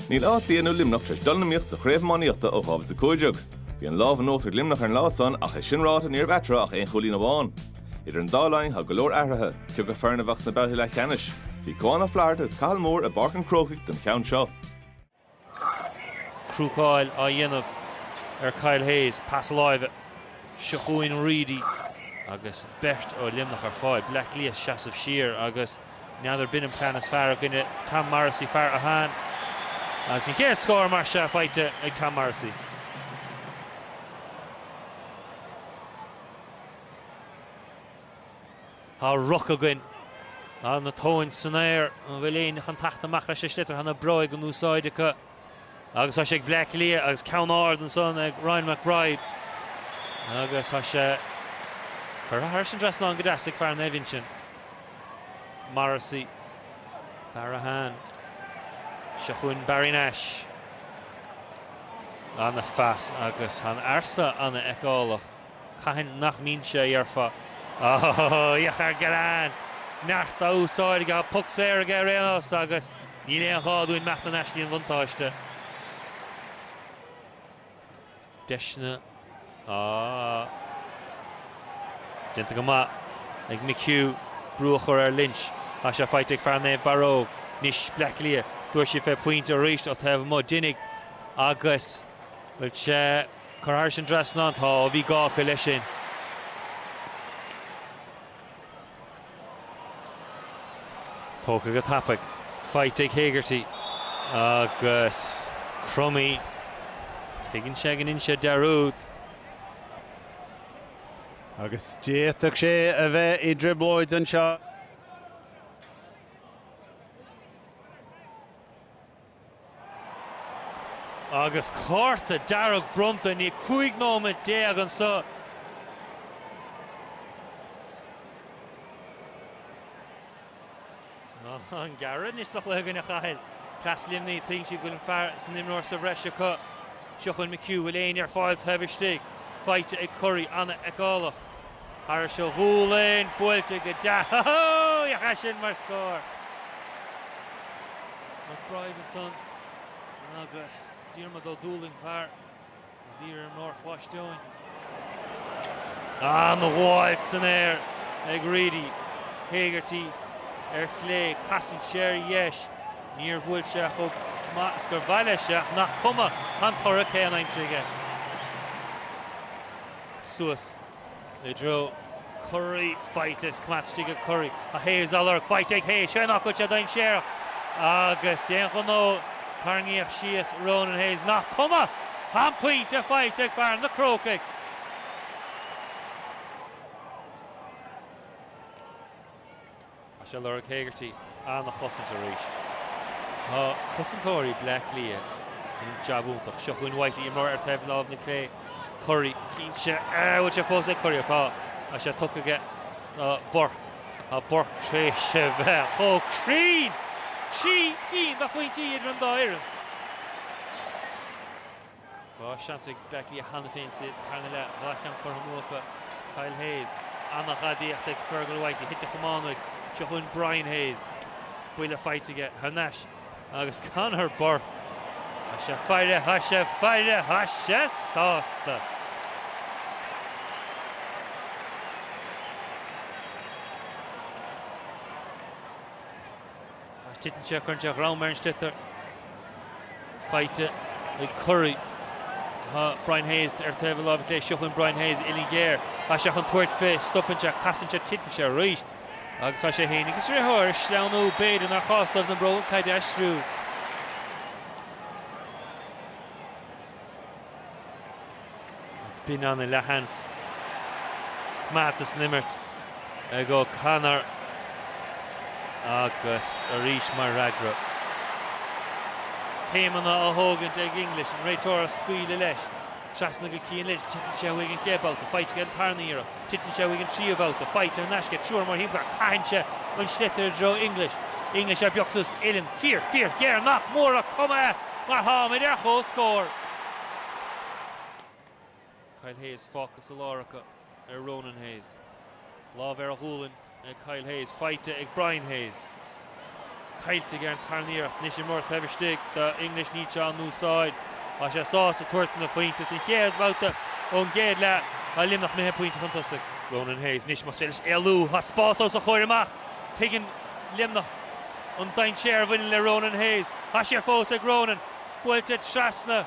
Níl Áth Cliath nó Luimneach tar éis dul in iomaíocht sa chraobh iománaíochta ó 2015. Bhí an lámh in uachtar ag Luimneach ar an lá san ach é sin ráite níorbh eatarthu ach aon chúilín amháin. Idir an dá linn tá go leor athraithe. Cioca foireann a bheadh sna babhtaí leathcheannais? Bhí Cuán Ó Flatharta agus Cathal Moore i bPáirc an Chrócaigh don cheann seo. Crúcáil á dhéanamh ar Kyle Hayes, pas láimhe. Seo chugainn Reidy agus beirt ó Luimneach ar fáil. Bleá Cliath ag seasamh siar agus n'fheadar b'in an plean is fearr i gcoinne Tom Morrissey, fear Atháin. Agus an chéad scór mar seo faighte ag Tom Morrissey. Tá ruc againn. Tá na tóin san aer. An bhfuil éinne chun tacht amach leis an sliotar? Tá na bróga in úsáid acu agus tá sé ag Bleá Cliath agus ceann ard ansan ag Rian McBride. Agus tá sé curtha thairis an dtrasnán go deas ag fear Naomh Uinsionn. Morrissey. Fear Atháin. Seo chugainn Barry Nash. Ana phas agus an fear san ana fheiceálach. Cathain nach mbíonn sé a déarfá? Ahh! Iach ar Gillane! Neart á úsáid aige, puc saor aige ar aon nós agus níl aon ghá dúinn imeacht thar n-ais le haghaidh an bhuntáiste. Deiseanna á déanta go maith ag McHugh brú a chur ar Lynch. Tá sé faighte ag fear Naomh Barróg. Anois Bleá Cliath. Dtabharfaidh siad fé phointe arís ó taobh amuigh. Déanfaidh agus bhfuil sé. Curtha thairis an dtrasnán. Tá, ó bhí gá acu leis sin. Tógtha go tapaidh. Faighte ag Hegarty. Agus Crummey. Tuigeann sé go ndein sé dearúd. Agus d'fhéadfadh sé a bheith i dtrioblóid anseo. Agus cárta dearg bronnta, níl 15 nóiméad anso. An gearradh anois sa chluiche againn a Chathail. Cleas Luimnigh, tuigeann siad go bhfuil an fear san imreoir sa bhreis acu. Seo chugainn McHugh, bhfuil éinne ar fáil taobh istigh? Faighte ag Currie, an-fheiceálach. Thairis a ghualainn, buailte go deas. Féach air sin mar scór! McBride ansan agus Diarmaid Ó Dúlaing thar a dtír ar an Áirc Bhais Deóin. Ana ghabháil san aer ag Reidy. Hegarty ar chlé, casann sé ar dheis. Níor bhuail sé chomh maith is gur mhaith leis ach nach cuma, tá an toradh céanna aimsithe aige. Suas. I dtreo Currie, faighte is coimeádta istigh ag Currie. Tá Hayes á lorg, faighte ag Hayes, ó nach bhfuil sé dainséarach agus d'aon ghnó tarraingíodh síos Ronan Hayes nach cuma! Tá an pointe faighte ag Fear na Crócaigh. Tá sé ag lorg Hegarty an-chosaint arís ó chosantóirí Bleá Cliath, an jab iontach. Seo chugainn Whitely, imreoir ar taobh láimh na clé. Currie, titeann sé, an bhfuil sé fós ag Currie, tá sé tugtha aige do Burke. Tá Burke tar éis a bheith chomh cruinn! Trí cinn de phointí idir an dá fhoireann. Dhá sheans ag Bleá Cliath cheana féin sa tarna leath, dhá cheann curtha amú acu. Kyle Hayes, an-ghadaíocht ag Fergal Whitely, thit a chamán uaidh. Seo chugainn Brian Hayes, buille faighte aige thar n-ais agus Conor Burke, tá sé ag faire, tá sé ag faire, tá sé sásta! Ach titeann sé, cailleann sé a ghreim ar an sliotar. Faighte ag Currie. Tá Brian Hayes ar taobh a láimhe clé. Seo chugainn Brian Hayes uillinn ghéar. Tá sé chun tabhairt fé. Stopann sé, casann sé, titeann sé arís. Agus tá sé féin agus a dhriotháir ag sleamhnú. B'fhéidir nár chás dóibh na bróga caide a aistriú. An spin ana leathan 's coimeádta san imirt ag O'Connor agus arís mar fhreagra. Céimeanna á thógaint ag English, an réiteoir á scaoileadh leis. Trasna go Cian Lynch, titeann sé uaidh an chéad babhta, faighte aige an tarna iarracht, titeann sé uaidh an tríú babhta, faighte thar n-ais aige, triúr mórthimpeall air, caitheann sé an sliotar i dtreo English. English ar beag suas, uillinn fíor, fíorghéar nach mór ach is cuma mar tháimid ar chomhscór. Kyle Hayes fágtha sa lár acu ar Ronan Hayes. Lámh ar a ghualainn ag Kyle Hayes, faighte ag Brian Hayes. Caillte aige an tarna iarracht, anois imreoir taobh istigh do English, níl sé á n-úsáid. Tá sé sásta tabhairt féna phointe is an chéad bhabhta ón gcéad leath. Tá Luimneach imithe pointe chun tosaigh. Ronan Hayes anois más féidir leis éalú, tá spás os a chomhair amach. Tuigeann Luimneach an dainséar a bhaineann le Ronan Hayes. Tá sé fós ag Ronan. Buailte trasna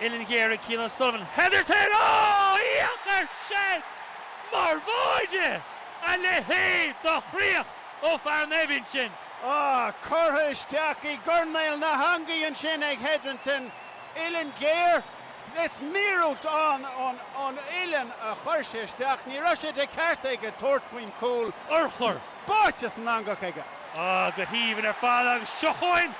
Uillinn Ghéar ag Cian O'Sullivan. Hetherton! Ó! Féach air sin mar bháide! A leithéid do chríoch ó fhear Naomh Uinseann! Á! Curtha isteach i gcoirnéal na heangaí ansin ag Hetherton. Uillinn Ghéar! Is míorúilt ón uillinn a chuir sé isteach. Ní raibh sé de cheart aige tabhairt faoin chúl. Urchar! Báite san eangach aige! Ah, go haoibhinn ar fad agus seo chugainn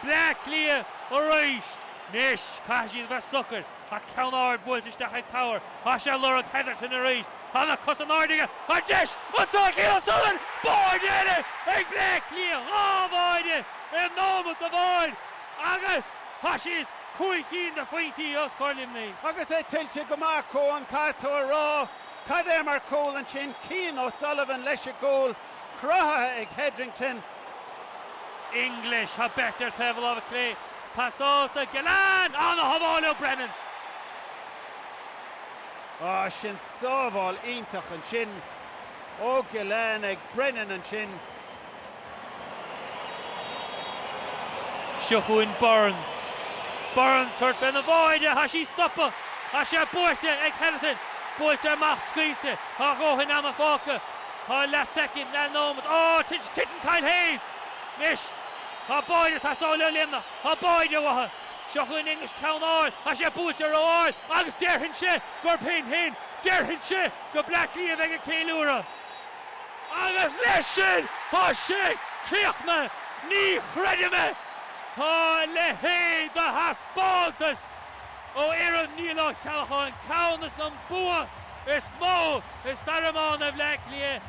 Bleá Cliath arís. Anois, caithfidh siad a bheith socair. Tá ceann ard buailte isteach ag Power. Thá sé ag lorg Hetherton arís. Thá na cosa in airde aige. An deis anso Cian O'Sullivan! Báide eile ag Bleá Cliath! Dhá bháide i nóimeat amháin agus tá siad cúig cinn de phointí os comhair Luimnigh. Agus é tuillte go maith acu, ann, caithfidh tú a rá. Cad é mar chúl ansin, Cian O'Sullivan leis an gcúl, cruthaithe ag Hetherington. English, How Better ar taobh a láimhe clé, pas ard do Gillane, an-shábháil ó Brennan. Á, sin sábháil iontach ansin ó Gillane ag Brennan ansin. Seo chugainn Byrnes. Byrnes ag tabhairt fén bháide, thá sí stoptha, thá sé buaite ag Hetherton, buailte amach, scaoilte, thá a dhóthain ama fágtha, thá leath soicind, leath nóimead, á, titeann, titeann Kyle Hayes! Anois, thá báide ag teastáil ó Luimneach, thá báide uatha. Seo chugainn English, ceann ard, thá sé buailte ró-ard agus déarfainnse gurb in shin, déarfainnse go Bleá Cliath a bheidh ag ceiliúradh. Agus leis sin tá sé críochnaithe! Ní chreidim é! Tá a leithéid de thaispeántas ó fhoireann Niall Ó Ceallacháin ceann is an bua is mó i stair iomána Bhleá Cliath.